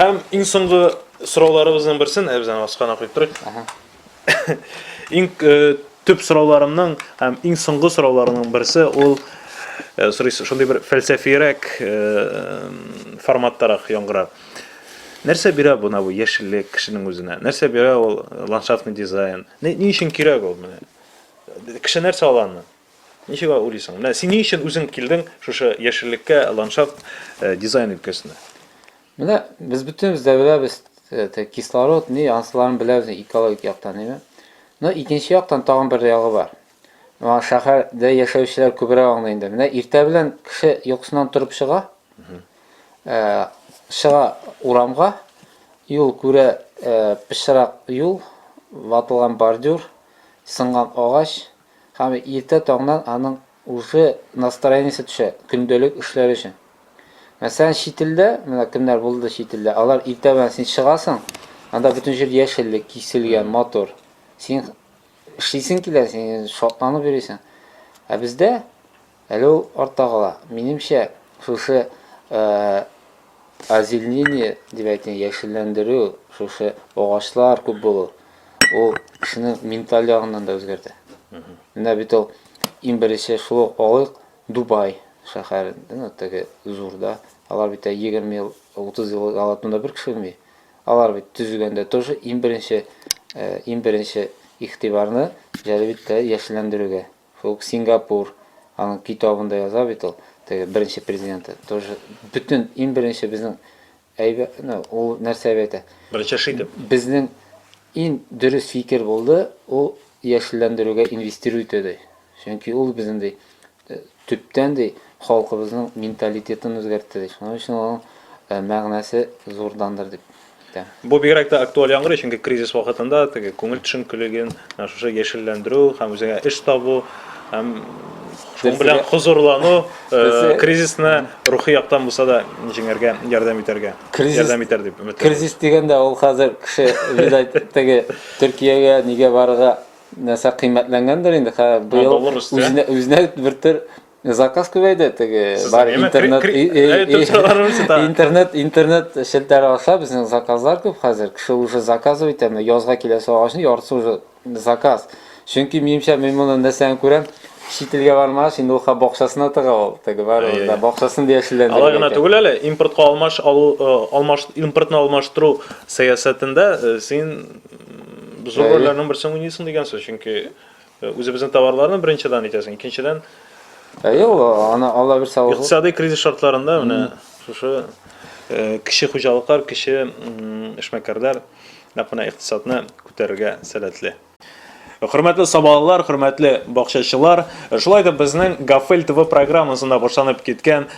Һәм иң соңгы сорауларыбызның берсен, ә без аны аскана куеп торыйк. Иң төп сорауларымның һәм иң соңгы сорауларының берсе ул сорыйсы шундый бер фәлсәфиерәк форматтарак яңгыра. Нәрсә бирә бу набу яшеллек кешенең үзенә? Нәрсә бирә ул ландшафтный дизайн? Ни өчен кирәк ул менә? Кеше нәрсә ала аны? Ничек алай уйлыйсың? Менә син ни өчен үзең килдең шушы яшеллеккә, ландшафт э, дизайн өлкәсенә? Менә без бөтенебез дә беләбез, э, кислород, ни, ансыларын беләбез экологик яктан, әйме? Но икенче яктан тагын бер ягы бар. Моңа шәһәрдә яшәүчеләр күбрәк аңлый инде. Менә иртә белән кеше йокысыннан торып чыга, э, чыга урамга, юл күрә, э, пычрак юл, ватылган бордюр, сынган агач, Һәм иртә таңнан аның уже настроениесе төшә, көндәлек эшләр өчен. Мәсәлән, чит илдә, менә кемнәр булды чит илдә, алар иртә белән син чыгасың, анда бөтен җир яшеллек, киселгән, матур. Син эшлисең килә, син шатланып йөрисең. Ә бездә Әле ул артта кала. Минемчә, шушы озеленение дип әйтә, яшелләндерү, шушы агачлар күп булу, ул кешенең менталь ягыннан да үзгәртә. Менә бит ул иң беренче шул ук алыйк Дубай шәһәрендә, ну, теге зурда. Алар бит 20 ел, 30 ел алатында бер кеше үлми. Алар бит төзегәндә тоже иң беренче, иң беренче игътибарны җәлеп итте яшелләндерүгә. Фук Сингапур, аның китабында яза бит ул, теге беренче президенты, тоже бөтен иң беренче безнең әйбә, ну, ул нәрсә дип әйтә? Беренче эш итеп. Безнең иң дөрес фикер булды, ул яшелләндерүгә инвестиру итү ди. Чөнки ул безнең ди, э, төптән ди, халкыбызның менталитетын үзгәртте ди. Шуның өчен аның э, мәгънәсе зурдандыр дип. Бу бигрәк тә актуаль яңгырый, чөнки кризис вакытында теге күңел төшенкелеген, менә шушы яшелләндерү һәм үзеңә эш табу һәм шуның белән хозурлану э, кризисны рухи яктан булса да җиңәргә ярдәм итәргә. Кризис, ярдәм итәр дип өметләнәм. Кризис дигәндә ул хәзер кеше видать теге Төркиягә нигә барырга нәрсә кыйммәтләнгәндер инде. Быел үзенә, үзенә бертөр Заказ күбәйде теге бар интернет интернет интернет челтәре аша безнең заказлар күп хәзер. Кеше уже заказ итә, менә язга киләсе агачны яртысы уже заказ. Чөнки минемчә мин моны нәрсәдән күрәм? Чит илгә бармагач, инде ул ха бакчасына тыга ул. Теге бар ул да бакчасын яшелләндерә. Алай гына түгел әле, импортка алмаш алу, алмаш импортны алмаштыру сәясәтендә син зур рольләрнең берсен уйныйсың дигән сүз, чөнки Үзебезнең товарларны беренче дан итәсең, икенчедән... Әйе, ул, аны Алла бирсә, ул... Икътисадый кризис шартларында менә шушы э, кече хуҗалыклар, кече эшмәкәрләр нәкъ менә икътисадны күтәрергә сәләтле. Хөрмәтле сабалылар, хөрмәтле бакчачылар, шулай да безнең Гафел ТВ программасында башланып киткән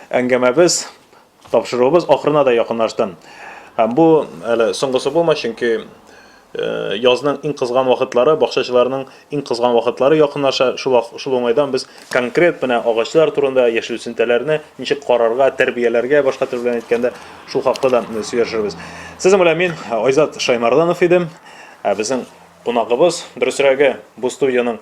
әңгәмәбез Тапшыруыбыз ахырына да якынлашты. Һәм бу әле соңгысы булмас, чөнки язның иң кызган вакытлары, бакчачыларның иң кызган вакытлары якынлаша. Шул, шул уңайдан без конкрет менә агачлар турында, яшел үсентеләрне ничек карарга, тәрбияләргә, башка тел белән әйткәндә, шул хакта да сөйләшербез. Сезнең белән мин Айзат Шаймарданов идем. Ә безнең кунагыбыз, дөресрәге, бу студиянең